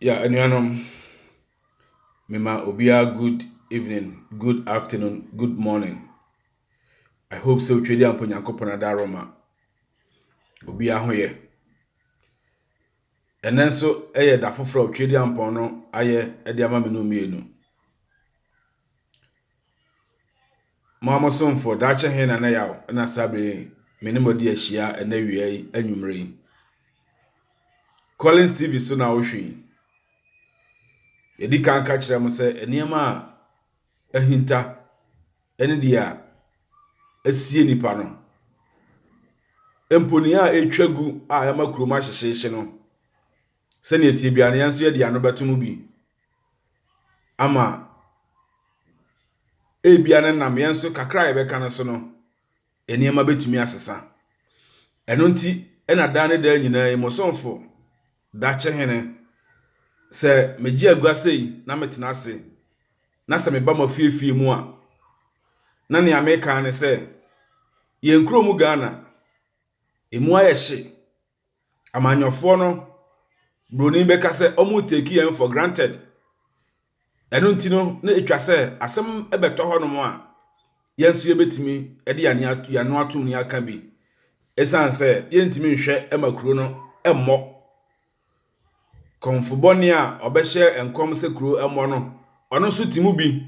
Yeah anuanom, mema obiara good evening, good afternoon, good morning. I hope sɛ otwa di ampo Nyankopɔn adaroma. Obiara ho yɛ. Ɛnɛ nso ɛyɛ da foforɔ a otwa di ampɔn no ayɛ de ama me no mmienu. Mo ara mo somfo, daakye he na ne yaw na saa bere yi me ne mo adi ahyia ɛnɛ wia yi anwummere yi. Collins TV so na wohwe yi. Yɛdi kan ka kyerɛ mo sɛ nneɛma a ahinta ɛne deɛ a asie nipa no mponin a ɛtwa gu a ɛma kurom ahyehyeehye no Sɛnea ɛteɛ biara no, yɛn nso yɛde yɛn ano bɛto mu bi ama ebia no nam yɛn nso kakra a yɛbɛka no so no, nneɛma bɛtumi asesa. Ɛno nti ɛna daa ne daa nyinaa yi, mo somfo dakye hene, sɛ megye agua sei na metena ase, na sɛ meba m'afiefie mu a, na nea meka ne sɛ, yɛn kurom Ghana, ɛmu ayɛ hye, Amanyɔfoɔ no broni bɛka sɛ wɔn take yɛn for granted. Ɛno nti no na ɛtwa sɛ asɛm bɛtɔ hɔ nom a yɛn nso yɛbɛtumi de yɛn ano atom ne aka bi. Ɛsiane sɛ yɛntumi nhwɛ ma kuro no mmɔ. Kɔmfo bɔne a ɔbɛhyɛ nkɔm sɛ kuro mmɔ no, ɔno nso te mu bi.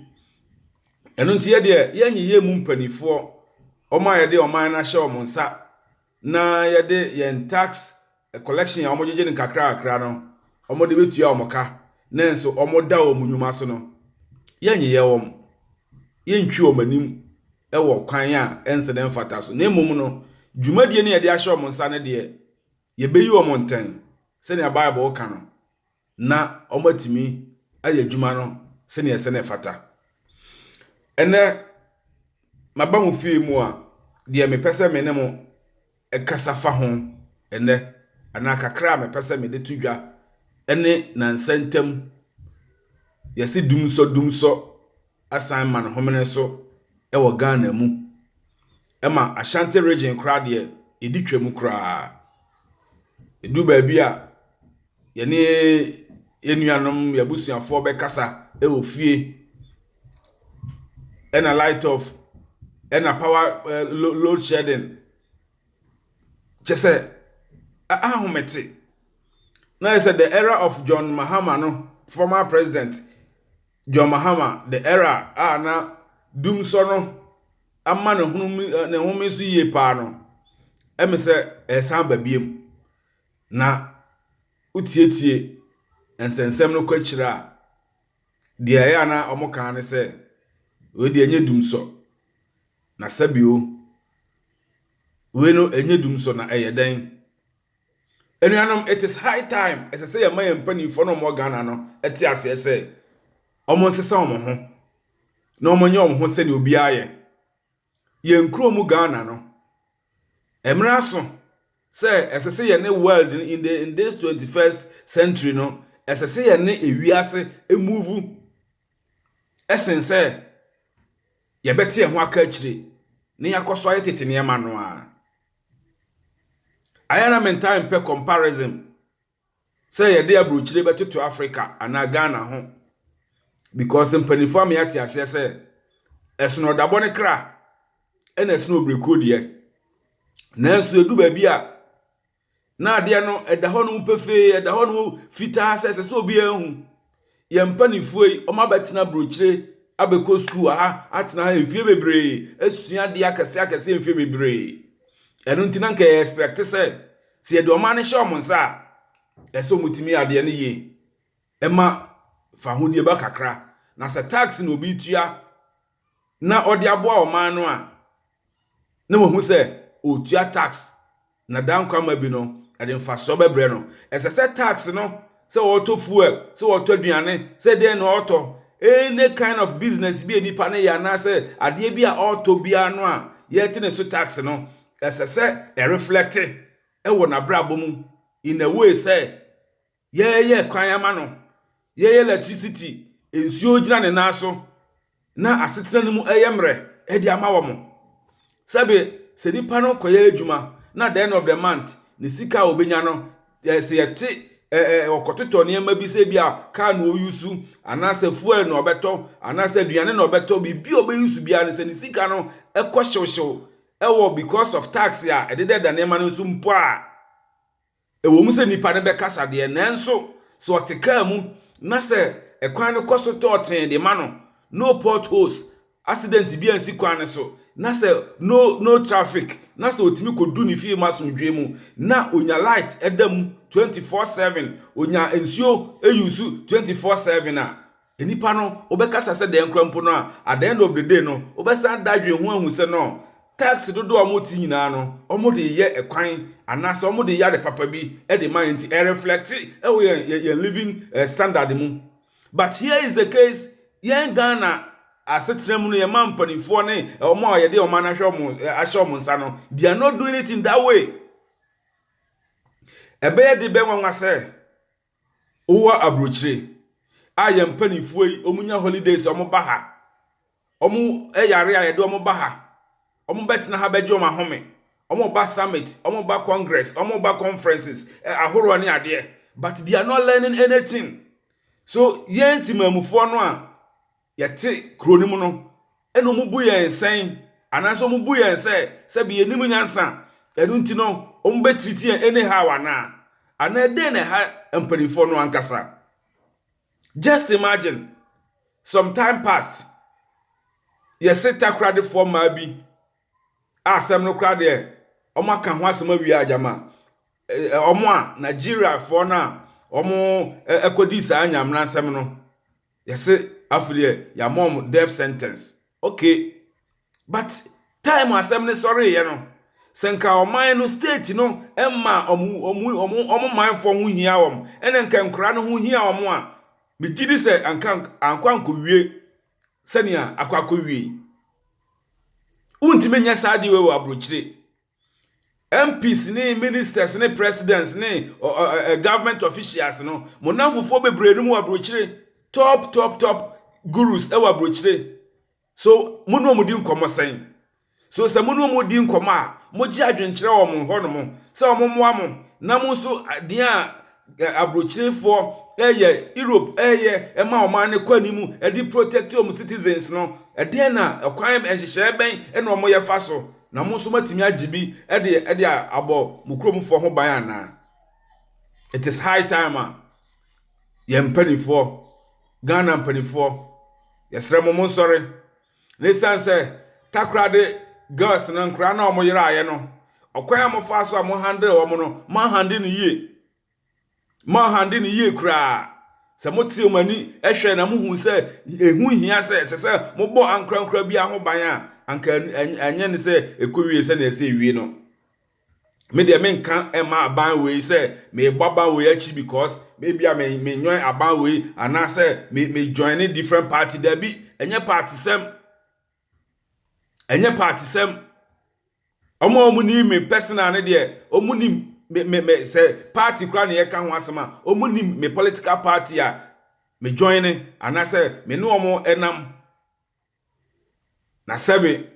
Ɛno nti yɛdeɛ yɛnyeyɛ mu mpanimfoɔ wɔn a yɛde ɔman no ahyɛ wɔn nsa na yɛde yɛn tax collection a wɔgyegye no kakrakakra no wɔde bɛtua wɔn ka nanso wɔda wɔn nnwuma so no, yɛnyeyɛ wɔn, yɛntwi wɔn anim wɔ kwan a ɛnsɛ na ɛmfata so. Na mmom no, dwumadie no yɛde ahyɛ wɔn nsa no deɛ, yɛbɛyi wɔn ntɛn sɛnea Bible ka no. na wɔatumi ayɛ adwuma no sɛnea ɛsɛ na ɛfata. Ɛnɛ, maba mo fie mu a, deɛ mepɛ sɛ me ne mo kasa fa ho ɛnɛ, anaa kakra a mepɛ sɛ mede to dwa ne nansa ntam yɛse dumsɔ dumsɔ asan ma no homene so wɔ Ghana mu. Ɛma Ashanti region koraa deɛ, yɛdi twa mu koraa. Ɛdu baabi a, yɛne yɛn nuanom, yɛn abusuafoɔ bɛkasa wɔ fie. Ɛna light off, ɛna power eh, lo- load shedding. Kyɛ sɛ, a- ahomete. Na yɛ sɛ the era of John Mahama no, former president, John Mahama, The Era a na dumsɔ no ama ne home ne home so yie paa no, ɛme sɛ ɛresan ba biom. Na wotietie nsɛnsɛm no kɔ akyire a, deɛ ɛyɛ a na wɔka ne sɛ, wei deɛ ɛnyɛ dumsɔ, na sɛbio wei no ɛnyɛ dumsɔ na ɛyɛ dɛn? Anuanom, it is high time, ɛsɛ sɛ yɛma yɛn mpanimfoɔ no a wɔwɔ Ghana no te aseɛ sɛ, wɔnsesa wɔn ho na wɔnyɛ wɔn ho sɛdeɛ obiara yɛ. Yɛn kuro mu Ghana no, mmerɛ aso sɛ ɛsɛ sɛ yɛne world no in, the, in this 21st century no, ɛsɛ sɛ yɛne ewiase emuvu ɛsen sɛ yɛbɛte yɛn ho aka akyire na yɛakɔ so ayɛ tete nneɛma no ara. Ayɛ a na me ntaa mpɛ comparison sɛ yɛde aburokyire bɛtoto Africa anaa Ghana ho because mpanimfoɔ ama yɛate aseɛ sɛ ɛsono ɔdabɔ ne kra ɛna ɛsono obrekuo deɛ. Nanso ɛdu baabi a Na adeɛ no ɛda hɔ nom pefee, ɛda hɔ nom fitaa sɛ ɛsɛ sɛ obiara hu. Yɛn mpanimfoɔ yi, wɔn abɛtena burokyire, abɛkɔ sukuu wɔ ha, atena ha mfie bebree, asua adeɛ akɛseɛ akɛseɛ mfie bebree. Ɛno nti na nka yɛ expect sɛ, sɛ yɛde ɔman no hyɛ wɔn nsa a, ɛsɛ sɛ wɔtumi yɛ adeɛ no yie. Ɛma fahodie ba kakra. Na sɛ tax na obi tua, na ɔde aboa ɔman no a na wɔahu sɛ ɔretua tax na daa nkwa ma bi no, ɛde mfasoɔ bɛbrɛ no. Ɛsɛ sɛ tax no, sɛ ɔretɔ fuel, sɛ ɔretɔ aduane, sɛ dɛn na ɔretɔ, any kind of business bi a nipa no yɛ anaasɛ adeɛ bi a ɔretɔ biara no a yɛte ne so tax no, ɛsɛ sɛ ɛreflɛkte wɔ n'abrabɔ mu in a way sɛ Yɛyɛ kwan ama no, yɛyɛ lɛtrisiti, nsuo gyina ne nan so, na asetena no mu yɛ mmerɛ de ama wɔn. Sɛbe sɛ nipa no kɔyɛ adwuma na at the end of the month ne sika a ɔbɛnya no, eh, sɛ yɛte eh, eh, ɔkɔtotɔ nneɛma bi sɛ bi a kaa na ɔyusu anaasɛ fuel na ɔbɛtɔ anaasɛ aduane na ɔbɛtɔ biribi a ɔbɛyusu biara no sɛ ne sika no kɔ hyewhyew ɛwɔ because of tax a ɛdedɛda nneɛma no nso mpo a Ɛwom sɛ nnipa no bɛkasa deɛ, nanso sɛ ɔte kaa mu na sɛ ɛkwan no kɔ so tɔ tee de ma no, no potholes, asidɛnte bi ansi kwan no so, na sɛ no no traffic, na sɛ ɔtumi kɔdu ne fie mu asomdwoeɛ mu, na ɔnya light da mu twenty four seven, ɔnya nsuo yusu twenty four seven a, Nnipa no wɔbɛkasa sɛ dɛn koraa mpo no a, at the end of the day no, wobɛsan ada adwene ho ahu sɛ no, tax dodoɔ a wɔte nyinaa no, wɔde reyɛ kwan anaasɛ wɔde reyɛ ade papa bi de ma yɛn nti, ɛreflɛkte wɔ yɛn, yɛn, yɛn living eh, standard mu. But here is the case, yɛn Ghana asetena mu no, yɛma mpanimfoɔ ne wɔn a yɛde ɔman no ahwɛ wɔn, eh, ahyɛ wɔn nsa no, they are not doing it in that way. Ɛbɛyɛ de bɛn nwanwa sɛ, Wowɔ abrokyire a yɛn mpanimfoɔ yi wɔn nya holidays wɔn ba ha. Wɔn yare a yɛde wɔn ba ha. Wɔn bɛtena ha bɛgye wɔn ahome. Wɔn ba summit, wɔn ba congress, wɔn ba conferences ahoroɔ ne adeɛ but they are not learning anything. So yɛn temanmufoɔ no a yɛte kuro no mu no, ɛna wɔn bu yɛn sɛn, anaasɛ wɔn bu yɛn sɛ sɛbi yɛn nim nyansa, ɛno nti no wɔn bɛ treat yɛn anyhow anaa, anaa dɛn na ɛha mpaninfoɔ no ankasa. Just imagine, some time past, yɛse takoradefoɔ mmaa bi, a asɛm no koraa deɛ wɔn aka ho asɛm awie agyama, wɔn a Nigeriafoɔ no a wɔn ɛkɔdi saa nyamena nsɛm no, Yɛse afei deɛ yɛama wɔn death sentence ok but time asɛm no sɔreeɛ no sɛ nka ɔman no state no mma wɔn wɔn wɔn manfoɔ ho hia wɔn ɛna nka nkora no ho hia wɔn a megye di sɛ anka ankɔ ankɔwie sɛnea akɔ akɔwie yi wontumi nyɛ saa adeɛ wɔ aburokyire MPs ne ministers ne presidents ne ɔ ɔ ɛ ɛ government officials no, mo nnamfofoɔ bebree no mu wɔ aburokyire. Top top top gurus wɔ aburokyire. So mo ne wɔn di nkɔmmɔ sɛn? So sɛ mo ne wɔn di nkɔmmɔ a, mogye adwenkyerɛ wɔ wɔn hɔnom sɛ wɔmmoa mo na mo nso deɛ a Aburokyirefoɔ yɛ Europe ɛyɛ ɛma wɔn ano kɔ anim ɛde protect wɔn citizens no ɛdeɛn na ɛkwan nhyehyɛɛ bɛn ɛna wɔn yɛ fa so na mo nso matumi agye bi ɛde ɛde abɔ mo kuromfoɔ ho ban anaa it is high time a yɛn mpanifoɔ Ghana mpanifoɔ yɛsrɛ mo mo nsɔre Na esiane sɛ takora de girls no, nkwadaa no a wɔyeraeɛ no, ɔkwan a wɔfaa so a wɔhandle wɔn no, moanhandle no yie. Moanhandle no yie koraa. Sɛ mote wɔn ani hwɛ na mohu sɛ ɛho hia sɛ ɛsɛ sɛ mobɔ ankorankora biara ho ban a, anka ɛnyɛ ne sɛ ɛkɔwie sɛdeɛ ɛsɛ ɛwie no. me deɛ menka ɛma aban wei sɛ mebɔ aban wei akyi because maybe a me me nyoin aban wei anaasɛ me me join ne different party dabi ɛnyɛ party sɛm ɛnyɛ party sɛm wɔn a wɔn nim me personal ne deɛ wɔn nim me me me sɛ party kura na yɛka ho asɛm a wɔn nim me political party a me join ne anaasɛ me ne wɔn ɛnam Na sɛbe,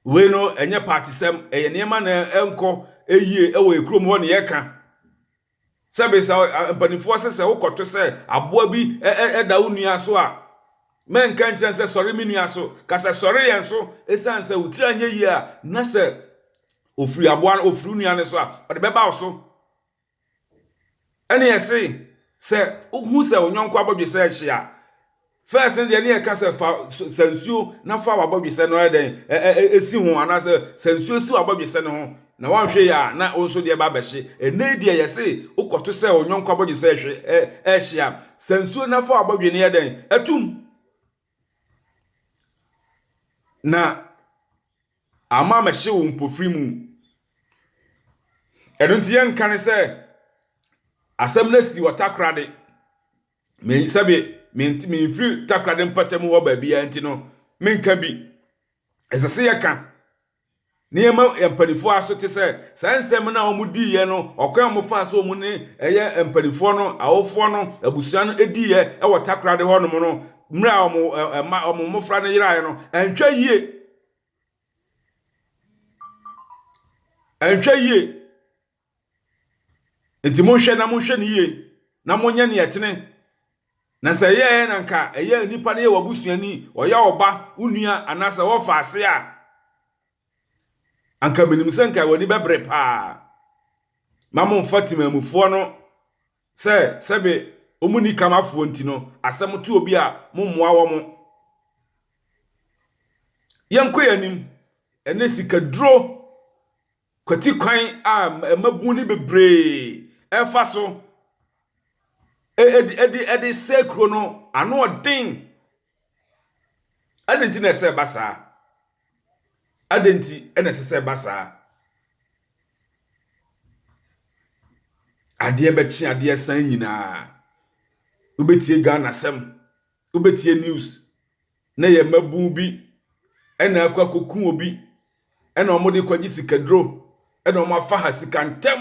wei no ɛnyɛ paatesɛm, ɛyɛ nneɛma na ɛnkɔ yie wɔ ekurom hɔ ne yɛka. Sɛbe sɛ mpanimfoɔ sɛ sɛ wokɔto sɛ aboa bi da wo nua so a, mɛnka nkyerɛ sɛ sɔre me nua so, ka sɛ sɔre yɛn so, ɛsiane sɛ wo tiri anyɛ yie a, na sɛ ofiri aboa no, ofiri nua no so a, ɔde bɛba wo so. ɛne ɛse sɛ wohu sɛ wo yɔnko abɔdwesɛ ahye a, first no deɛ ne yɛka sɛ fa sɛ nsuo na fa w'abɔdwesɛ no ayɛ dɛn ɛsi ho anaasɛ sɛ nsuo si w'abɔdwesɛ no ho na wanhwɛ yɛ a na wo nso deɛ ba bɛhye ɛnɛ deɛ yɛse wokɔto sɛ wo yɔnko abɔdwesɛ ɛhye a sɛ nsuo na fa w'abɔdwe no yɛ dɛn atum Na ama mɛhye wo mpofiri mu. Ɛno nti yɛnka ne sɛ asɛm no asi wɔ takorade. Me sɛbe mente memfiri takorade mpɔtam hɔ baabiara nti no menka bi. Ɛsɛ sɛ yɛka Nneɛma yɛ mpanimfoɔ aso te sɛ saa nsɛm no a wɔdiiɛ no, ɔkwan a wɔfaa so wɔn ne ɛyɛ mpanimfoɔ no, awofoɔ no, abusua no diiɛ wɔ Takoradi hɔnom no, mmerɛ a wɔn ɛma, wɔn mmɔfra no yeraeɛ no, ɛnhwɛ yie. Ɛnhwɛ yie. Enti monhwɛ na monhwɛ no yiye, na monyɛ nea ɛtene. Na sɛ ɛyɛɛ na anka ɛyɛ a nipa no yɛ w'abusuani, ɔyɛ wo ba, wo nua, anaasɛ ɔfa ase a, anka minim sɛ anka w'ani bɛbere paa. Mma mommfa temammufoɔ no sɛ sɛbe wɔnni kam afoɔ nti no, asɛm to obi a, mommoa wɔn. Yɛnkɔ yɛn anim. Ɛnnɛ, sikaduro Kwati kwan a mmabun no bebree fa so de sɛe kurow no ano yɛ den. Adɛn nti na ɛsɛ sɛ ɛba saa? Adɛn nti na ɛsɛ sɛ ɛba saa? Adeɛ bɛkye adeɛ san nyinaa. Wobɛtie Ghana asɛm, wobɛtie news. na ɛyɛ mmabun bi na akɔ akɔku obi na wɔde kɔgye sikaduro na wɔafa ha sika ntɛm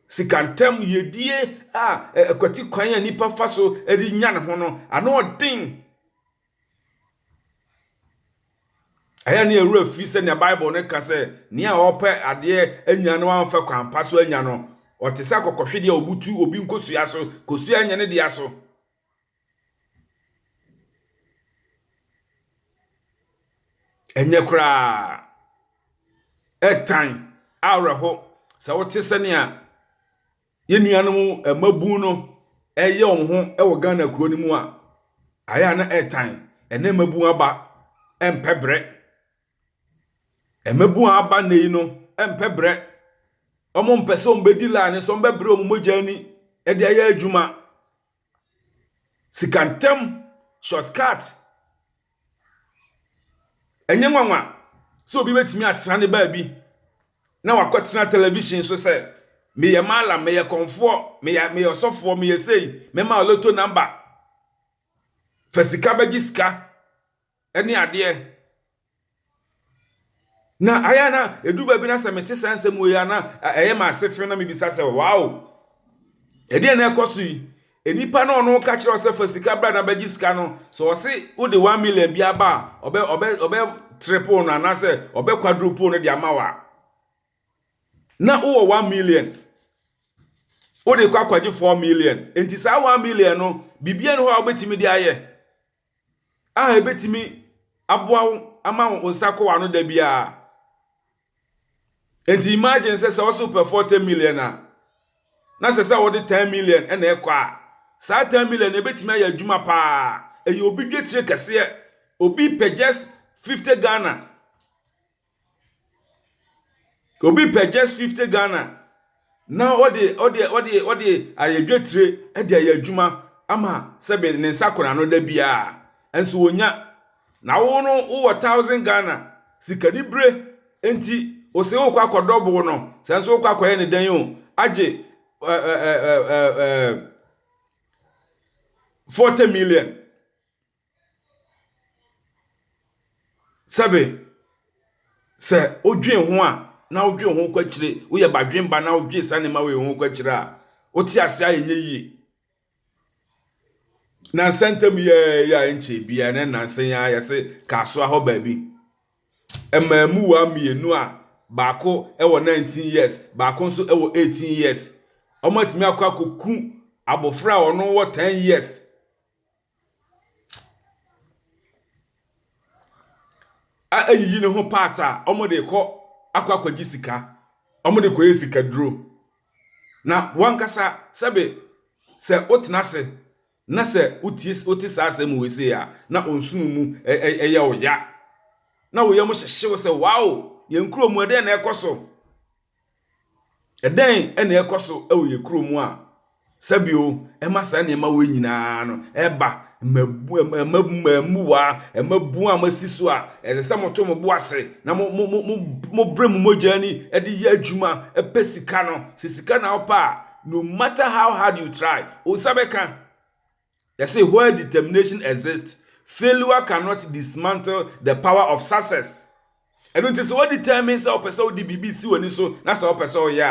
sika ntɛm yɛdie a ɛkwati kwan a nipa fa so de nya ne ho no ano ɔden ɛyɛ ne ɛwura fi sɛnea bible no ka sɛ nea ɔpɛ adeɛ anya no amfa kwan pa so anya no ɔte sɛ akɔkɔhwedeɛ a ɔbutu obi nkosua so kosua nyɛ ne dea so Ɛnyɛ koraa. Ɛtan awerɛho sɛ wote sɛnea yɛn nuanom mmabun no reyɛ wɔn ho wɔ Ghana kuro no mu a, ayɛ a na ɛtan. Ɛnɛ mmabun aba mpɛ brɛ. Mmabun a aba nnɛ yi no mpɛ brɛ. Wɔmpɛ sɛ wɔbɛdi line so, wɔbɛbrɛ wɔn mogya ani de ayɛ adwuma. Sika ntɛm, short cut. Ɛnyɛ nwanwa sɛ obi bɛtumi atena ne baabi na wakɔtena television so sɛ, meyɛ mallam, meyɛ kɔmfoɔ, meyɛ meyɛ ɔsɔfoɔ, meyɛ sei, mɛma wo lotto number. Fa sika bɛgye sika. ne adeɛ na ayɛ na ɛdu baabi na sɛ mete saa nsɛm wei a na ɛyɛ ma ase fe na mebisa sɛ wow ɛdeɛ na ɛkɔ so yi nnipa na ɔno ka kyerɛ sɛ fa sika bra na bɛgye sika no sɛ ɔse wode 1 million bi aba a ɔbɛ ɔbɛ ɔbɛ triple no anaasɛ ɔbɛ quadruple no de ama wa na wowɔ 1 million wode kɔ akɔgye 4 million nti saa 1 million no biribiara ne hɔ a wobɛtumi de ayɛ a ebetumi aboa wo ama wo nsa kɔ w'ano da biara. Enti imagine sɛ sɛ wɔsɛ wopɛ 40 million a, na sɛ sɛ wɔde 10 million na ɛkɔ a, saa 10 million no ebetumi ayɛ adwuma paa. Ɛyɛ obi dwetire kɛseɛ. Obi pɛ just 50 Ghana Obi pɛ just fifty Ghana na ɔde ɔde ɔde ɔde ayɛ dwetire de ayɛ adwuma ama sɛbe ne nsa kora no da biara nso onya. Na wo no wowɔ thousand Ghana sikanibere nti ose wokɔ akɔdɔ bo no sɛ nso wokɔ akɔyɛ ne dɛn o agye ɛɛ ɛɛ ɛɛ forty million. Sɛbe sɛ wodwen ho a na wodwen ho kɔ akyire, woyɛ badwemma na wodwen saa nneɛma wei ho kɔ akyire a, wo te ase a ɛnyɛ yie. Nnansa ntam yi ara yi a ɛnkyɛɛ biara na nnansa yi ara yɛse Kasoa hɔ baabi, mmaamuwaa mmienu a baako wɔ 19 years, baako nso wɔ 18 years, wɔatumi akɔ akɔku abɔfra a ɔno wɔ 10 years. a ayiyi ne ho parts a wɔde rekɔ akɔ akɔgye sika. Wɔde rekɔyɛ sikaduro. Na w'ankasa sɛbe sɛ wotena ase na sɛ wotie wote saa asɛm wei sei a, na wo nsono mu ɛ ɛ ɛyɛ wo ya, na wo yam hyehye wo sɛ, Wow! Yɛn kurom ha, ɛdeɛn na ɛrekɔ so? Ɛdɛn na ɛkɔ so wɔ yɛn kuro mu a sɛbio ɛma saa nneɛma wei nyinaa no ɛba? Mmabuwa, mmabuwa a moasi so a ɛsɛ sɛ moto mo bo ase na mo mo mo mobrɛ mo mogya ani de yɛ adwuma pɛ sika no. Sɛ sika na wopɛ a, no matter how hard you try, wo nsa bɛka. Yɛse where determination exists, failure cannot dismantle the power of success. Ɛno nti sɛ wo determine sɛ wopɛ sɛ wode biribi si w'ani so na sɛ wopɛ sɛ woyɛ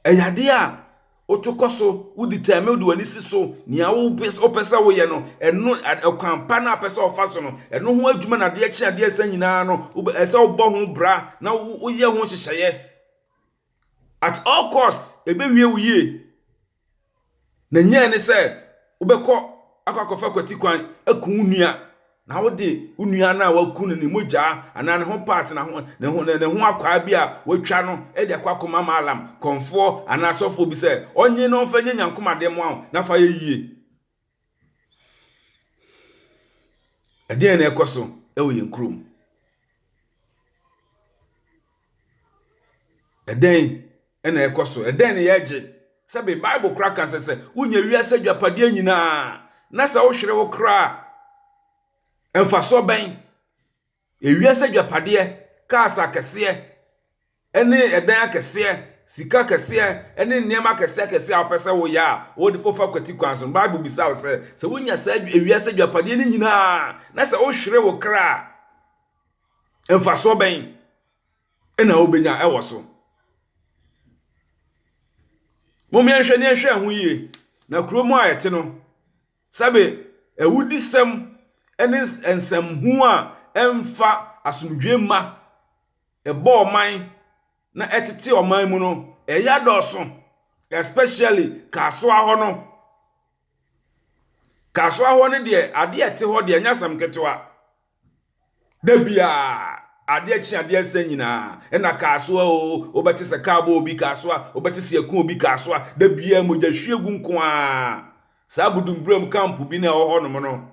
a, ɛyɛ adeɛ a woto kɔ so, wo determine wode w'ani si so, nea wopɛ sɛ woyɛ no, ɛno ɛkwan pa no a wopɛ sɛ wofa so no, ɛno ho adwuma na adeɛ kye adeɛ sa nyinaa no, ɛsɛ wobɔ ho bra na woyɛ ho nhyehyɛeɛ. At all cost, ebewie wo yie. Na nyɛ ne sɛ wobɛkɔ akɔ akɔfa kwatikwan aku wo nua, na wode wo nua no a waku no ne mogya anaa ne ho part na ho ne ho ne ho akwaa bi a watwa no de akɔ akɔma maalam kɔmfoɔ anaa asɔfoɔ bi sɛ ɔnye na ɔmfa nyɛ nyankomadeɛ mmoa wo na fa yɛ yie. Ɛdeɛn na ɛkɔ so wɔ yɛn kurom? Ɛdɛn na ɛkɔ so? Ɛdɛn na yɛregye? Sɛbe Bible koraa ka sɛ sɛ wonya wiase adwapadeɛ nyinaa na sɛ wohwere wo kra a, mfasoɔ bɛn Ewiase agyapadeɛ, cars akɛseɛ ne ɛdan akɛseɛ, sika kɛseɛ ne nneɛma akɛseɛ akɛseɛ a wopɛ sɛ woyɛ a, wode wofa kwati kwan so no, Bible bisa wo sɛ, sɛ wonya saa ewiase agyapadeɛ no nyinaa na sɛ wohwere wo kra a, mfasoɔ bɛn na wobɛnya wɔ so? Mom yɛnhwɛ ne yɛnhwɛ ɛho yie, na kurom a yɛte no, Sɛbe awudisɛm ne nsɛmhu a ɛmfa asomdwoe mma ɛbɔ ɔman na ɛtete ɔman mu no, ɛyɛ adɔɔso, especially Kasoa hɔ no. Kasoa hɔ no deɛ, adeɛ a ɛte hɔ deɛ, ɛnyɛ asɛm ketewa. Da biara, adeɛ kye adeɛ nsa nyinaa, ɛna kaa so a o, wobɛte sɛ kaa bɔ obi kaa so a, wobɛte sɛ ɛko obi kaa so a, da biara mogya hwie gu nko a. Saa Budumburam kampo bi na ɛwɔ hɔnom no,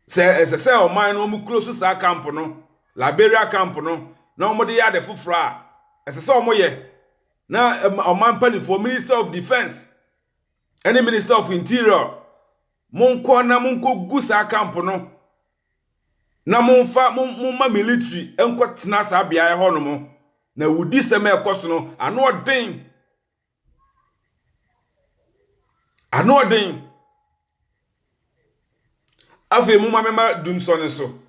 sɛ ɛsɛ sɛ ɔman no wɔn kuro so saa kampo no, Liberia kampo no, na wɔde yɛ ade foforɔ a, ɛsɛ sɛ wɔyɛ. Na ɔman mpanimfoɔ, Minister of Defence, ɛne minister of interior monkɔ na monkɔgu saa camp no na momfa momma military nkɔtena saa beaeɛ hɔ nom na wudi sɛm a ɛkɔ so no ano ɔden ano ɔden Afei momma memma dumsɔ no so.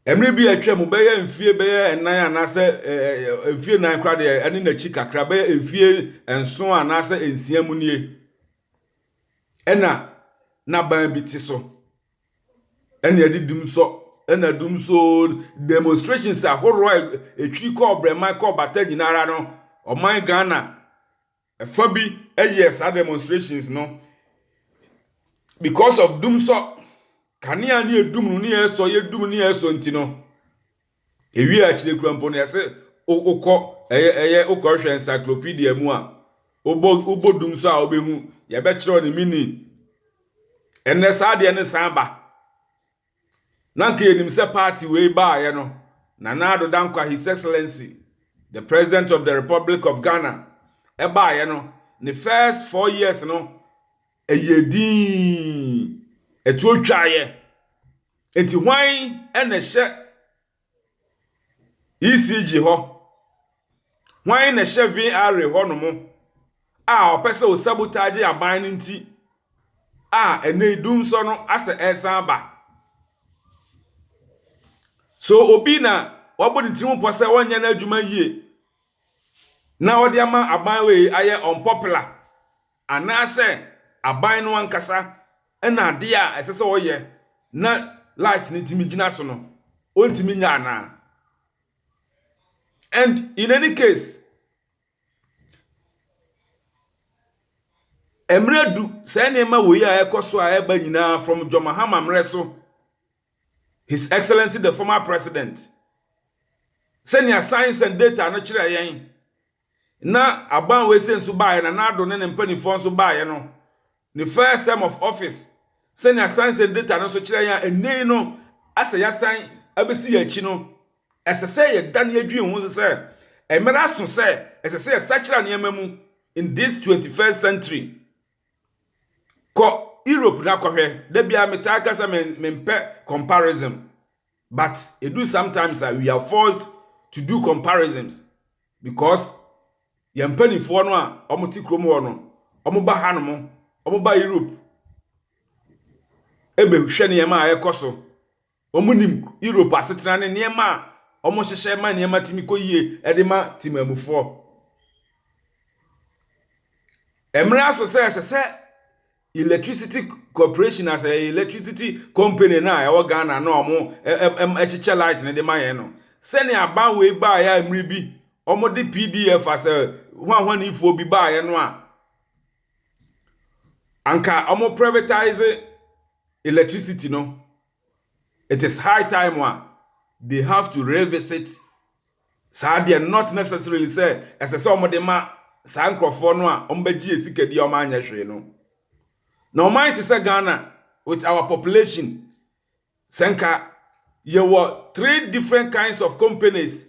Mmere bi a atwam, bɛyɛ mfie bɛyɛ nnan anaasɛ mfie nnan koraa deɛ ɛne n'akyi kakra, bɛyɛ mfie nson anaasɛ nsia mu nie, ɛna n'aban bi te so. Ɛna ɛde dumsɔ, ɛna dumsɔ demonstrations ahorow a ɛtwiri kɔɔ brɛman kɔɔ bata nyinaa no, ɔman Ghana. Ɛfa bi yɛɛ saa demonstrations no because of dumsɔ. Kanea ne edum no ne ɛsɔ, yɛdum ne ɛsɔ nti no, ewie akyire kura mpo no yɛse wokɔ ɛyɛ ɛyɛ wokɔhwɛ encyclopedia mu a wobɔ wobɔ dumsɔ a wobɛhu yɛbɛkyerɛw ne meaning. Ɛnɛ saa deɛ no san ba. Na nka yɛnim sɛ party wei baeɛ no, Nana Addo Dankwa His Excellency, the President of the Republic of Ghana, ɛbaeɛ no, ne first four years no, ɛyɛɛ dinn, ɛtuo twaeɛ. Nti hwan na ɛhyɛ ECG hɔ. Hwan na ɛhyɛ VRA hɔnom a ɔpɛ sɛ ɔsabotagye aban no nti a ɛnnɛ yi dunsɔ no asɛ ɛresan aba? So obi na wabɔ ne tirim pɔ sɛ ɔnyɛ n'adwuma yie na ɔde ama aban wei ayɛ unpopular? Anaasɛ aban no ankasa na ade a ɛsɛ sɛ ɔyɛ na light no tumi gyina so no, ɔntumi nyɛ anaa? And in any case, mmerɛ du saa nneɛma wei a ɛkɔ so a ɛba nyinaa from John Mahama mmerɛ so, His Excellency the former President, sɛnea science and data no kyerɛ yɛn, na aban wei sɛ nso baeɛ, Nana Addo ne ne mpanimfoɔ nso baeɛ no, ne first term of office, sɛnea science and data no nso kyerɛ yɛn a ɛnnɛ yi no asɛ yɛasan abɛsi yɛn akyi no, ɛsɛ sɛ yɛda ne yɛdwene ho nso sɛ mmerɛ aso sɛ ɛsɛ sɛ yɛsakyera nneɛma mu in this 21st century. Kɔ Europe na kɔhwɛ, da biara metaa ka sɛ mempɛ comparison. But edu sometimes a we are forced to do comparisons because yɛn mpanimfoɔ no a wɔte kurom hɔ no, wɔba hanom, wɔba Europe ɛbɛhwɛ nneɛma a ɛkɔ so. Wɔnim Europe asetena ne nneɛma a wɔhyehyɛ ma nneɛma tumi kɔ yie ɛde ma temamufoɔ. Ɛmmra so sɛ ɛsɛ sɛ Electricity corporation as ɛyɛ electricity company no a ɛwɔ Ghana no a wɔn ɛkyekyɛ light no de ma yɛn no sɛnea aban wei baeɛ a mmere bi wɔn de pdf as hwanhwanifoɔ bi baeɛ no a anka wɔn privatize electricity no it is high time a they have to revisit Saa deɛ not necessarily sɛ ɛsɛ sɛ wɔn de ma saa nkorɔfoɔ no a wɔn bɛgye yɛ sika di a wɔn anyɛ hwee no. Na ɔman te sɛ Ghana with our population sɛ nka yɛ wɔ three different kinds of companies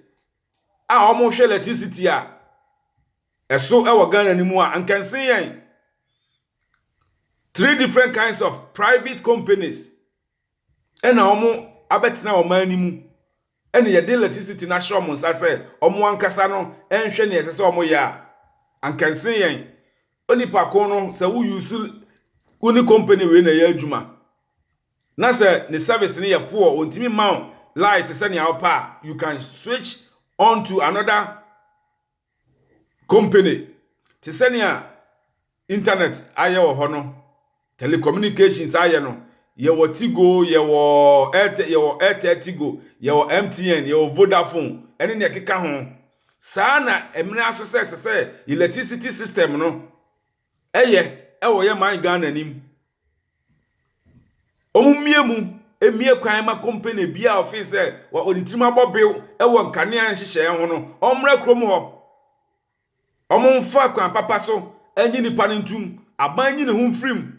a wɔn hwɛ electricity a ɛso ɛwɔ Ghana no mu a nkɛnse yɛn three different kinds of private companies ɛna wɔn abɛtena ɔman no mu ɛna yɛde electricity no ahyɛ wɔn nsa sɛ wɔn ankasa no nhwɛ nea ɛsɛ sɛ wɔyɛ a, anka nsen yɛn. Onipa ko no, sɛ wo use wo ne company wei na ɛyɛ adwuma, na sɛ ne service no yɛ poor, ontumi mma wo light sɛnea wopɛ a, you can switch on to another Company, te sɛ nea Intanɛt ayɛ wɔ hɔ no, telecommunications ayɛ no, yɛwɔ Tigo, yɛwɔ Airtel, yɛwɔ Airtel Tigo, yɛwɔ MTN, yɛwɔ Vodafone, ɛne nea ɛkeka ho. Saa na ɛmena so sɛ ɛsɛ sɛ electricity system no Ɛyɛ ɛwɔ yɛ man Ghana nim. Ɔmo mmie mu mmie kwan ma company biaa ɔfee sɛ wa ɔde tirim abɔ bew ɛwɔ nkanea nhyehyɛɛ ho no ɔmmra kurom hɔ. Ɔmo nfa kwan papa so ɛnye nipa no ntum. Aban nyi ne ho mfirim.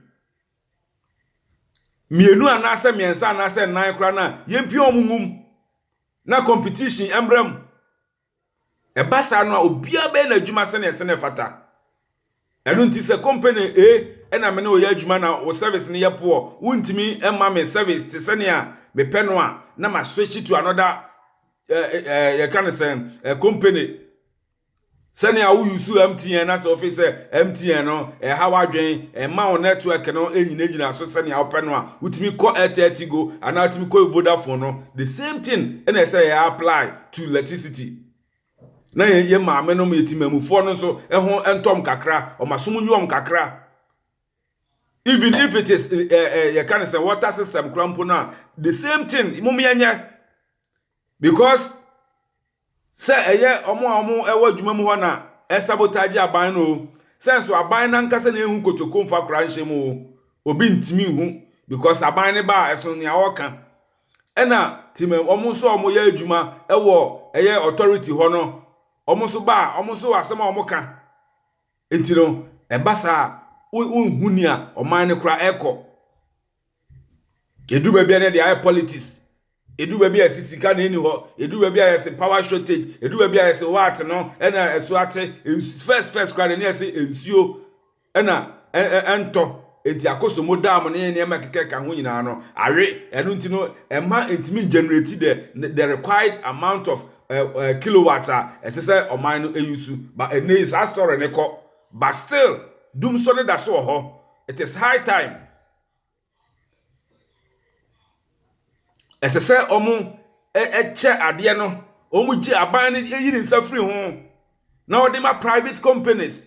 Mmienu anaasɛ mmiɛnsa anaasɛ nnan koraa no a yɛmpia ɔmo ngum na competition ɛmmra mu. Ɛba saa no a, obiara bɛyɛ n'adwuma sɛnea ɛsɛ na ɛfata. Ɛno nti sɛ kɔmpani A na me ne wo yɛ adwuma na wo service no yɛ poɔ, wontumi mma me service te sɛnea mepɛ no a, na ma switch to another eh, eh, eh, yɛka no sɛn, eh, company. Sɛnea wo use MTN na sɛ wofi sɛ MTN no ɛha w'adwen, ɛma wo network no ɛnyinagyina so sɛnea wopɛ no a, wotumi kɔ Airtel Tigo anaa wotumi kɔ Vodafone no, the same thing ɛna ɛsɛ yɛ apply to electricity na yɛ yɛ maame nom yɛ timamufoɔ no nso ɛho ɛntɔm kakra ɔma som nyɔm kakra even if it is ɛɛ eh, eh, yɛ ka ne sɛ water system kura mpo no a the same thing mom yɛ nyɛ because sɛ ɛyɛ ɔmo a ɔmo ɛwɔ adwuma mu hɔ na ɛsabotage aban no o sɛ nso aban nankasa na ehu kotoko nfa kora nhyɛ mu o obi ntumi hu because aban ne ba ɛso nea ɔka. Ɛna tim wɔn nso a wɔyɛ adwuma wɔ ɛyɛ authority hɔ no wɔn nso ba a wɔn nso asɛm a wɔn ka nti no ɛba saa wonhu nea ɔman no kora ɛkɔ edu baabi a na ɛde ayɛ politics edu baabi a ɛsi sika na ɛni hɔ edu baabi a yɛsi power shortage edu baabi a yɛsi what no ɛna ɛso ate first first kora na ɛni ɛsi nsuo. na ɛntɔ, enti akosombo dam ne nneɛma ɛkeka ɛka ho nyinaa no awe. Ɛno nti no, ɛma ɛntumi ngenerate the the required amount of uh, uh, kilowatts a ɛsɛ sɛ ɔman no ɛyusu. But ɛnɛ yi saa story ne kɔ, but still dumsɔ no da so wɔ hɔ. It is high time. Ɛsɛ sɛ ɔmo ɛkyɛ adeɛ no, ɔmo gye aban no ɛyi ne nsa firi ho na ɔde ma private companies.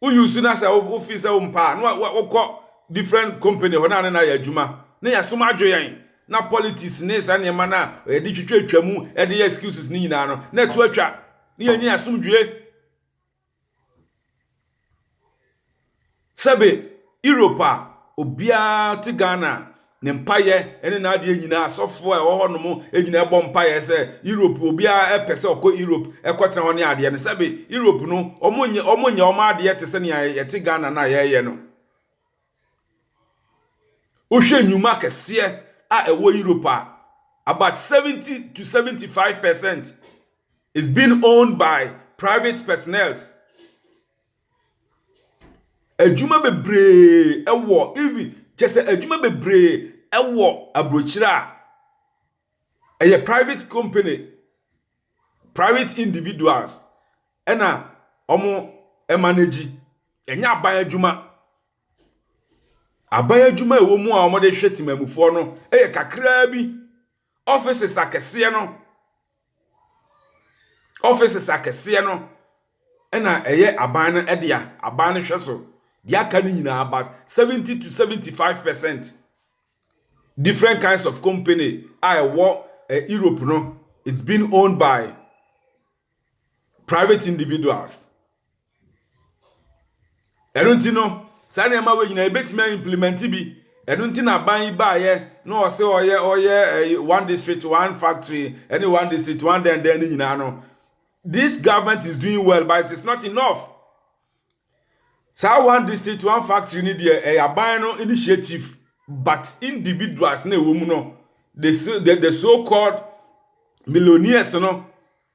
wo use na sɛ wo feel sɛ wo mpa a na wo kɔ different company hɔ na ne na yɛ adwuma na yɛ som adwo yɛn na politics ne saa nneɛma na yɛde twitwa atwa mu yɛde yɛ excuses ne nyinaa no na ɛto atwa ne yɛnyɛ asomdwie sɛbe Europe a obiara te Ghana Ne mpaeɛ ne n'adeɛ nyinaa asɔfoɔ a ɛwɔ hɔ nom nyinaa bɔ mpaeɛ sɛ Europe obiara pɛ sɛ ɔkɔ Europe ɛkɔtena hɔ ne adeɛ no sɛbe Europe no ɔmo nyɛ ɔmo nyɛ ɔmo adeɛ te sɛ nea yɛte Ghana no a yɛyɛ no wohwɛ nnwuma kɛseɛ a ɛwɔ Europe a about 70 to 75 percent is being owned by private personnels Adwuma bebree wɔ even kyerɛ sɛ adwuma bebree wɔ aburokyire a ɛyɛ private company, private individuals na wɔmanegyi. Ɛnyɛ aban adwuma. Aban adwuma a ɛwɔ mu a wɔde hwɛ temammufoɔ no yɛ kakraa bi. Offices akɛseɛ no Offices akɛseɛ no na ɛyɛ aban no dea, aban no hwɛ so. Deɛ aka no nyinaa, about 70 to 75 percent different kinds of company a ɛwɔ Europe no, it's being owned by private individuals ɛno nti no saa nneɛma wei nyinaa yɛbɛtumi a implement bi ɛno nti na aban yi baayɛ na ɔsɛ ɔyɛ ɔyɛ ɛyi one district one factory ɛne one district one dɛndɛn ne nyinaa no this government is doing well but it is not enough Saa one district one factory no deɛ ɛyɛ aban no initiative but individuals na ɛwɔ mu no the so the, the so called millionaires no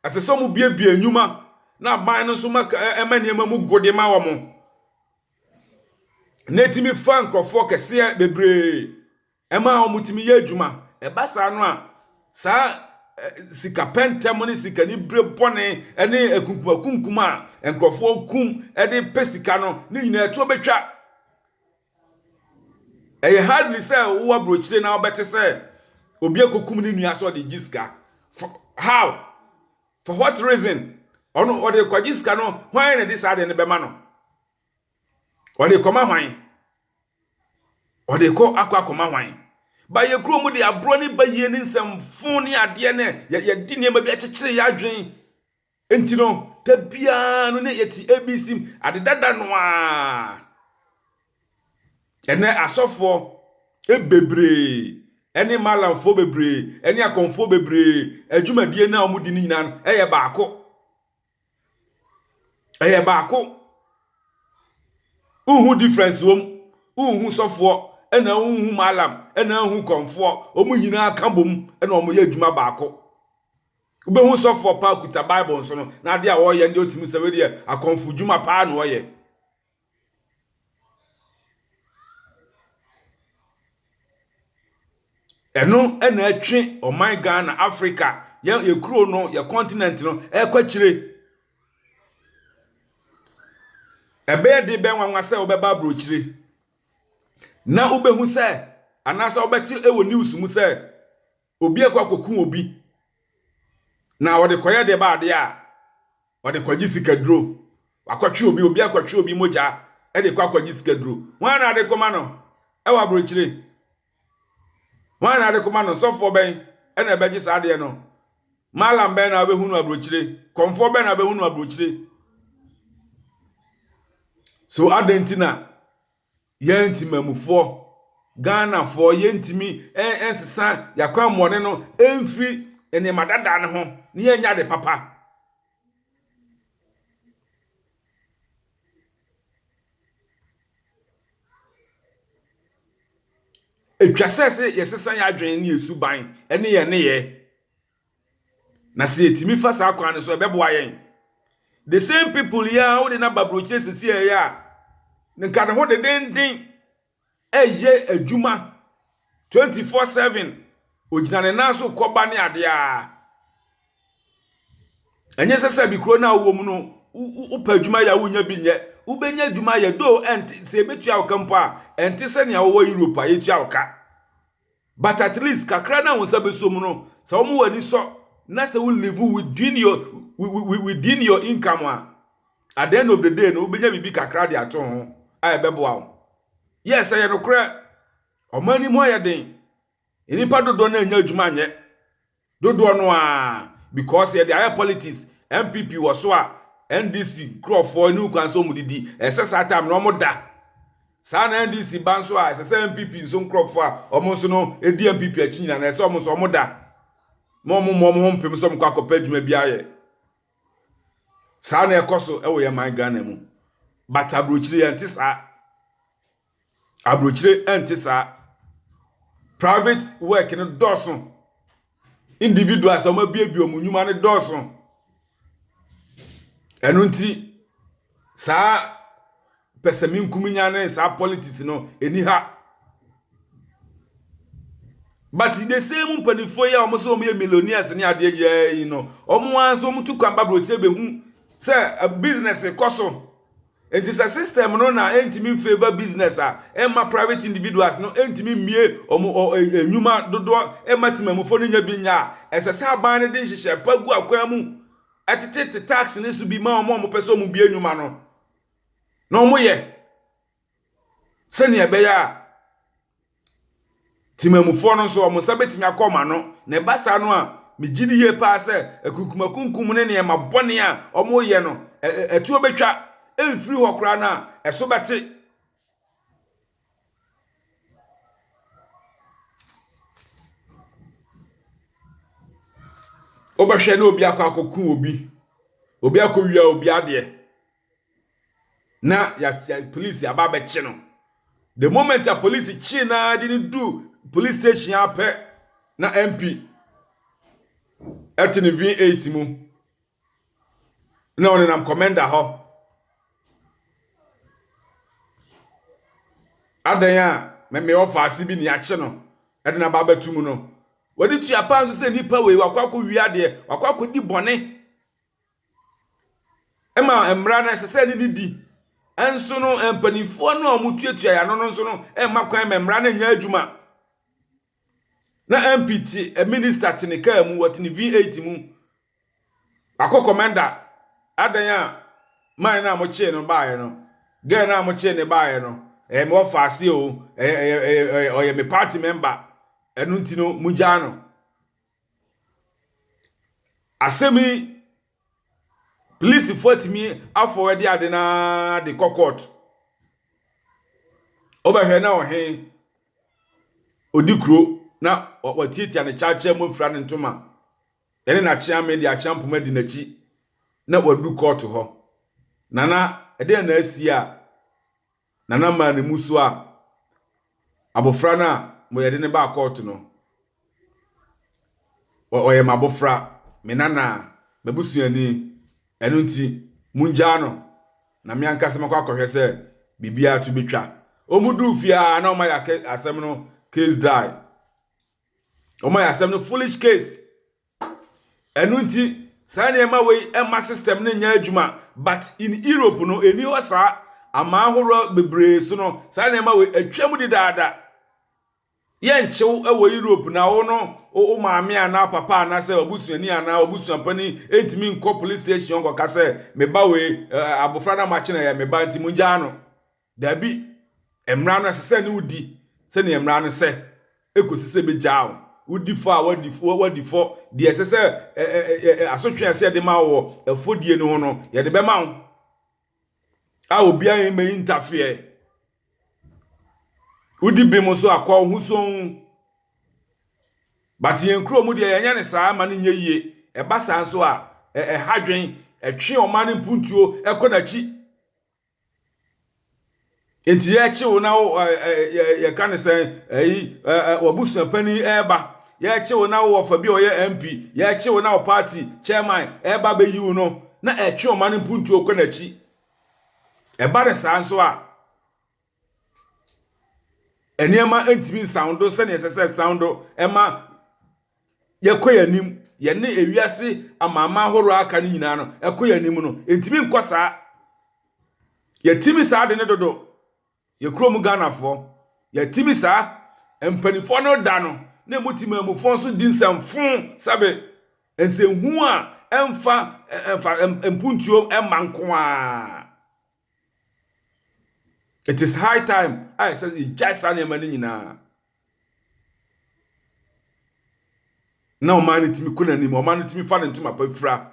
ɛsɛ sɛ wɔn biebie nnwuma na aban no nso ma ɛma nneɛma mu gode ma wɔn na ɛtumi fa nkurɔfoɔ kɛseɛ bebree Ɛma wɔtumi yɛ adwuma. Ɛba saa no a, saa sika pɛntɛm ne sikanibere bɔne ne akunkumakunkum a nkurɔfoɔ kum de pɛ sika no, ne nyinaa ɛtoɔ bɛtwa. Ɛyɛ hardly sɛ wowɔ aburokyire na wobɛte sɛ obi akɔkum ne nua sɛ ɔde gye sika. For how? For what reason? Ɔno ɔde kɔgye sika no, hwan na ɛde saa adeɛ no bɛma no? Ɔde kɔma hwan? Ɔde kɔ akɔ akɔma hwan? Ba yɛ kuro mu de aborɔ ne bayie ne nsɛmfo ne adeɛ ne yɛde nneɛma bi akyekyere yɛ adwene. Nti no, da biara no ne yɛte ABC ade dada no a. Ɛnɛ asɔfoɔ bebree ɛne malamfoɔ bebree ɛne akɔmfoɔ bebree adwumadie no a wɔdi no nyinaa no ɛyɛ baako. Ɛyɛ baako. Wonhu difference wɔ mu. Wonhu sɔfoɔ, ɛna wonhu mallam, ɛna wonhu kɔmfoɔ. Wɔn nyinaa ka bom na wɔyɛ adwuma baako. Wobɛhu sɔfoɔ paa kuta Bible nsono, na adeɛ a ɔreyɛ no deɛ wotumi sɛ wei deɛ akɔmfo dwuma paa na ɔreyɛ. Ɛno na ɛtwe ɔman Ghana, Africa, yɛn yɛn kuro no, yɛn continent no rekɔ akyire. Ɛbɛyɛ de bɛn nwanwa sɛ wobɛba aburokyire na wobɛhu sɛ anaasɛ wobɛte wɔ news mu sɛ obi akɔ akɔku obi na wɔde kɔyɛ deɛ ba adeɛ a wɔde kɔgye sikaduro wakɔtwe obi obi akɔtwe obi mogya de kɔ akɔgye sikaduro wɔn na ade kɔma no ɛwɔ aburokyire wɔn na ade kɔma no sɔfoɔ bɛn ɛna ɛbɛgye saa adeɛ no malam bɛn na ɔbɛhu no aburokyire kɔnfoɔ bɛn na ɔbɛhu no aburokyire so adan ti na Yɛn Temanmufoɔ, Ghanafoɔ, yɛntumi nsesa yɛn akwammɔne no mfiri nneɛma dada no ho na yɛnyɛ ade papa. Ɛtwa sɛ sɛ yɛsesa yɛn adwene ne yɛn suban ne yɛn nneyɛɛ. Na sɛ yɛtumi fa saa kwan no so a, ɛbɛboa yɛn. The same people yi a wode no aba burokyire sisi a ɛyɛ a, nka ne ho dedenden ɛyɛ adwuma 24/7. Ogyina ne nan so kɔba ne adeɛ a. Ɛnyɛ sɛ sɛ bikuro no a wowɔ mu no, wopɛ adwuma yɛ a wonya bi nyɛ. Wobɛnya adwuma yɛ, though ɛnte sɛ ebetua wo ka mpo a, ɛnte sɛ nea wɔwɔ Europe a yɛtua wo ka. but at least kakra na wɔn nsa bɛsɔ mu no sɛ wɔn wɔn ani sɔ na sɛ wo live within your within your income a at the end of the day no wobɛnya biribi kakra de ato ho a ɛbɛboa wo yɛ sɛ yɛ nokorɛ ɔman no mu ayɛ den nnipa dodoɔ no anya adwuma anyɛ Dodoɔ no ara because yɛde ayɛ politics NPP wɔ so a NDC nkurɔfoɔ ani hu kwan sɛ wɔn didi ɛsɛ saa time no wɔn da saa na NDC ba nso a ɛsɛ sɛ NPP nso nkurɔfoɔ a wɔn nso no ɛdi NPP akyi nyina na ɛsɛ wɔn nso wɔn da ma wɔn mmɔ wɔn ho mpem sɛ wɔn kɔ akɔpɛ adwuma bi ayɛ saa na ɛkɔ so ɛwɔ yɛn man Ghana mu but aburokyire yɛn te saa. Aburokyire ɛnte saa. Private work no dɔɔso. Individuals a wɔabiebie wɔn nnwuma no dɔɔso. Ɛno nti saa pɛsɛmenkominya ne saa politics no ɛni ha. But the same mpanimfoɔ yi a wɔn sɛ wɔn yɛ millionaires ne adeɛ nyinaa yi no, wɔn ara nso wɔn tu kwan ba aburokyire bɛhu sɛ business kɔ so. Enti sɛ system no na ɛntumi mfavour business a, ɛmma private individuals no ntumi mmue wɔn nnwuma dodoɔ mma temamufo no nya bi nyɛ a, ɛsɛ sɛ aban no de nhyehyɛe pa gu akwan mu tetete tax no so bi ma wɔn a wɔpɛ sɛ wɔbue nnwuma no na wɔyɛ sɛnea ɛbɛyɛ a Temammufoɔ no nso, wɔn nsa bɛtumi akɔ wɔn ano. Na ɛba saa no a, megye di yie paa sɛ akunkumakunkum ne nneɛma bɔne a wɔreyɛ no, ɛtoɔ bɛtwa mfiri hɔ koraa no a, ɛso bɛte. Wobɛhwɛ na obi akɔ akɔku obi, obi akɔwia obi adeɛ. na ya ya polisi aba abɛkye no the moment a polisi kye na de no du police station apɛ na mp ɛte ne v8 mu na ɔnenam commander hɔ adan a mɛmɛ ɔfa ase bi ne akye no ɛde na aba abɛto mu no wɔde tua paa nso sɛ nipa wei wakɔ akɔ wia deɛ wakɔ akɔ di bɔne ma mmara no ɛsɛ sɛ ɛne no di. Nso no, mpanimfoɔ no a wɔtuatua yɛn ano no nso no mma kwan ma mmara no nyɛ adwuma. Na MP te minista te ne kaa mu, wɔte ne V8 mu. Wakɔ kɔmɛnda. Adɛn a man no a mokyee no baeɛ no, girl no a mokyee no baeɛ no, ɛyɛ me wɔfa ase o, ɛyɛ ɛyɛ ɛyɛ ɔyɛ me party member, ɛno nti no mogyaa no. Asɛm yi, polisifo atumi afɔwadi ade no ara de kɔ court. Wobɛhwɛ na ɔhe, odi kuro na watiatia ne kyakyɛ mu afira ne ntoma. Ɛne n'akyeame de akyea mpoma adi n'akyi na wadu court hɔ. Nana, ɛdeɛn na asi a. Nana maa ne mmusu a abofra no a mo yɛde no baa kɔɔto no, ɔyɛ m'abofra, me nana, m'abusuani, ɛno nti mungyaa no na me ankasa makɔ akɔhwɛ sɛ biribiara to betwa. Wɔn duu fie a na wɔayɛ ake- asɛm no case die. Wɔayɛ asɛm no foolish case. Ɛno nti saa nneɛma wei ɛmma system no nyɛ adwuma but in Europe no ɛni hɔ saa aman ahoroɔ bebree so no saa nneɛma wei atwam dedaada. Yɛnkyew wɔ Europe na wo no wo maame anaa papa anaasɛ ɔbusuani anaa ɔbusuapani ɛntumi nkɔ police station nkɔka sɛ me ba wei abofra no a makye no ɛyɛ me ba nti mongyaa no. Dabi, mmara no ɛsɛ sɛ ne wodi sɛnea mmara no sɛ ekosi sɛ ebegyaa wo. Wodi fɔ a wadi fɔ wadi fɔ deɛ ɛsɛ sɛ ɛ ɛ ɛ ɛ asotwe a ɛsɛ yɛde ma wo wɔ ɛfɔdie no ho no yɛde bɛma wo a obiara yɛn mɛyi ntafeɛ. Wodi bem nso a kɔ wo ho sɔn. But yɛn kuro mu deɛ yɛnyɛ ne saa ma no nyɛ yie. Ɛba saa nso a ɛ ɛha dwen ɛtwe ɔman no mpuntuo ɛkɔ n'akyi. Nti yɛrekye wo na wo ɛ ɛ yɛ yɛka ne sɛ ɛyi ɛ ɛ w'abusua panin ɛreba yɛrekye wo na wo wɔfa bi a ɔyɛ MP yɛrekye wo na wo party chairman ɛreba abɛyi wo no na ɛtwe ɔman no mpuntuo kɔ n'akyi ɛba ne saa nso a nneɛma ntumi nsan do sɛdeɛ ɛsɛ sɛ ɛsan do ɛma yɛkɔ yɛn anim, yɛne ewiase amanaman ahorow a aka no nyinaa no, ɛkɔ yɛn anim no, ɛntumi nkɔ saa. Yɛtumi saa de ne dodo, yɛ kurom Ghanafoɔ, yɛtumi saa, mpanimfoɔ no da no, na ɛmu ti maamufoɔ nso di nsɛmfo sɛbe nsɛnhu a ɛmfa ɛmfa mpuntuo ɛma nko ara. It is high time a ɛsɛ sɛ yɛgyae saa nneɛma no nyinaa. Na ɔman no tumi kɔ n'anim, ɔman no tumi fa ne ntoma pa fira.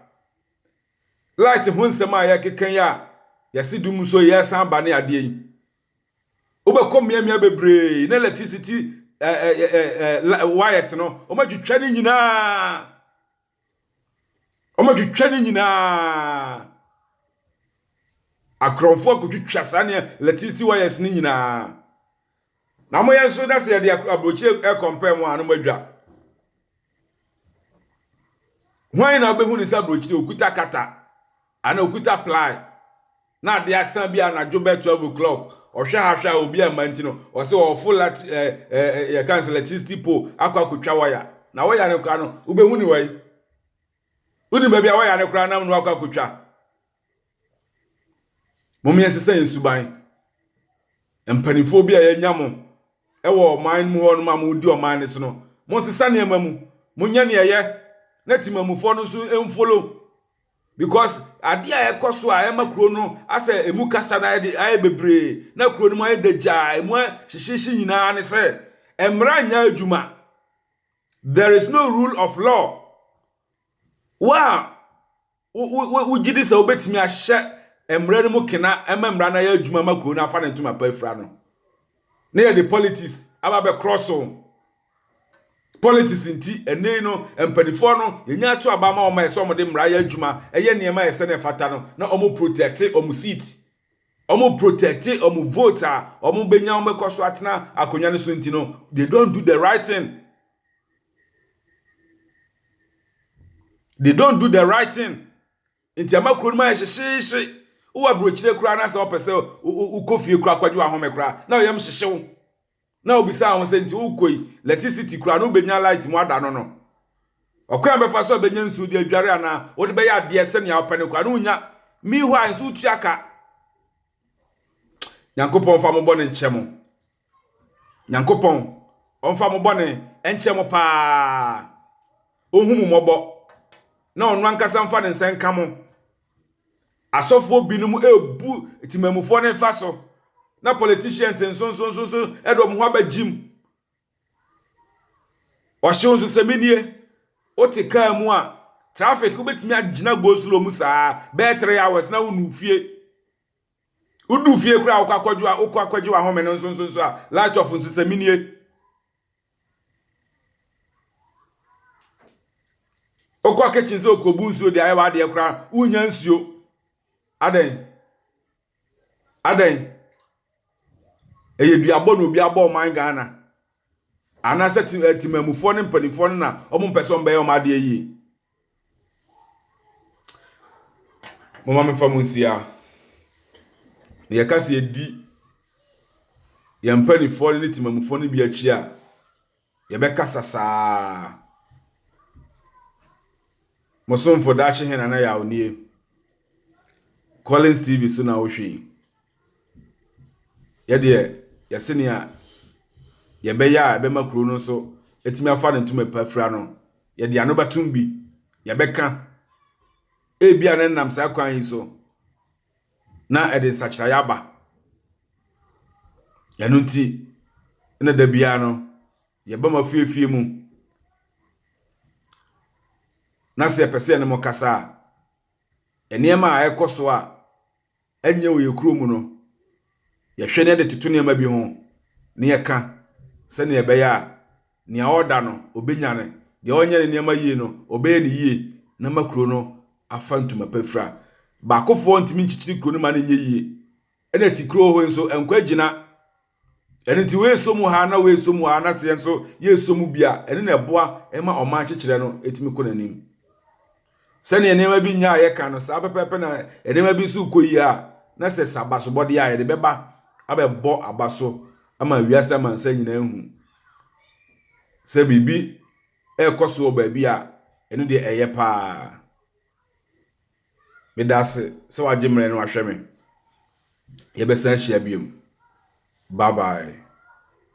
Light ho nsɛm a yɛkeka yi a yɛse dum so yɛsan ba ne adeɛ yi. Wobɛkɔ mmeammea bebree na electricity wires no, wɔatwitwa ne nyinaa. Wɔatwitwa ne nyinaa. Akorɔmfo akotwitwa saa nea electricity wires ne nyinaa. Na wɔyɛ nso na sɛ yɛde aburokyire ɛkɔmpɛn mu a na wɔadwa. Hwan na wobɛhu ne sɛ aburokyire okuta kata. Ana okuta ply na ade asan bi anadwo bɛ twelve o'clock ɔhwɛ ha hwɛ a obi amma nti no ɔse ɔɔfo lat eh, eh, eh, yɛka no sɛ electricity pole akɔ akotwa waya na waya no koraa no wobɛhu ne wai wonim baabi a waya no koraa nam no akɔ akotwa mom yɛnsesa yɛn suban mpanimfoɔ bi a yɛanya mo ɛwɔ ɔman mu hɔ nom a modi ɔman no so no monsesa nneɛma mu monyɛ ne ɛyɛ na timamufoɔ no nso mfolo Because adeɛ a ɛkɔ so a ɛma kuro no asɛ emu kasa na ayɛ de ayɛ bebree na kuro no mu ayɛ dagyaa emu hyehyehye nyinaa ne sɛ mmara nyɛ adwuma there is no rule of law wo a wogye di sɛ wobɛtumi ahyɛ mmara no mu kena ɛma mmara no ayɛ adwuma ma kuro no afa ne ntoma pa afira no na yɛde politics aba bɛkorɔ so Politics nti, ɛnnɛ yi no, mpanimfoɔ no, yɛnya ato aba ma wɔn a ɛsɛ wɔn de mmara yɛ adwuma, ɛyɛ nneɛma a ɛsɛ na ɛfata no, na wɔn protecte wɔn seat. Wɔn protecte wɔn vote a wɔn bɛnya wɔn bɛkɔ so atena akonnwa no so nti no, they don't do the right thing. They don't do the right thing. Nti ama kuro no mu ayɛ hyehyeehye. Wowɔ aburokyire koraa na sɛ wɔpɛ sɛ wokɔ fie koraa kɔgye wahome koraa, na ɔyam hyehye wo. Na obisaa ho sɛ, Nti wokɔ yi, lɛtisiti koraa no wobɛnya laet mu ada no no? Ɔkwan a wobɛfa so a bɛnya nsuo de adware anaa wode bɛyɛ adeɛ sɛnea wopɛ no koraa no wonnya. Meanwhile nso wotua ka. Nyankopɔn mfa mo bɔne nkyɛ mo. Nyankopɔn ɔmfa mo bɔne nkyɛ mo paa. Ɔnhu mo mmɔbɔ na ɔno ankasa mfa ne nsa nka mo. Asɔfoɔ binom rebu temanmufoɔ no mfa so, na politicians nso nso nso nso de wɔn ho aba gym. Ɔhyew nso sɛ menie, wote kaa mu a, traffic wobɛtumi agyina go slow mu saa bɛyɛ three hours na wonu fie. Wodu fie koraa a wokɔ akɔgye wokɔ akɔgye w'ahome no nso nso nso a, light off nso sɛ menie. Wokɔ kitchen sɛ okobu nsuo de ayɛ w'adeɛ koraa no, wonnya nsuo. Adɛn? Adɛn? Ɛyɛ duabɔ na obi abɔ ɔman Ghana. Anaasɛ te eh, temammufoɔ ne mpanimfoɔ no na wɔmpɛ sɛ wɔbɛyɛ wɔn adeɛ yie. Momma memfa mo nsia. Deɛ ɛka sɛ yɛdi yɛn mpanimfoɔ ne temamufoɔ no bi akyi a, yɛbɛkasa saa. Mo somfo Daakye Hene Nana Yaw nie. Collins TV so na wohwɛ yi. Yɛ deɛ, yɛse nea yɛbɛyɛ a ɛbɛma kuro no nso atumi afa ne ntoma pa afira no, yɛde ano bɛtom bi, yɛbɛka. Ebia na ɛnam saa kwan yi so na ɛde nsakyeraeɛ aba. Ɛno nti na da biara no, yɛba mo afie afie mu, na sɛ yɛpɛ sɛ yɛne mo kasa a, nneɛma a ɛrekɔ so a Ɛnyɛ wɔ yɛn kurom mu no, yɛhwɛ na yɛde toto nneɛma bi ho na yɛka sɛnea ɛbɛyɛ a nea ɔda no, obenya no, deɛ ɔnyɛ ne nneɛma yie no, ɔbɛyɛ no yie na ama kuro no afa ntoma pa fira. Baakofoɔ ntumi nkyekyere kuro no ma no nyɛ yie, ɛna Tikuro hɔ yi nso, ɛnkɔ agyina. Ɛno nti woesɔ mu ha na woesɔ mu ha na sɛ yɛn nso yɛsɔ mu bi a, ɛno na ɛboa ma ɔman kyekyerɛ no ɛtumi kɔ n'anim. Sɛnea nneɛma bi nyɛ a yɛka no saa pɛpɛɛpɛ na nneɛma bi nso kɔ yie a na sɛ sɛ abasobɔdeɛ a yɛde bɛba abɛbɔ aba so ama wiase amansan nyinaa hu sɛ biribi ɛrekɔ so wɔ baabi a ɛno deɛ ɛyɛ paa. Meda ase sɛ wagye mmerɛ no ahwɛ me. Yɛbɛsan ahyia biom. Bye bye.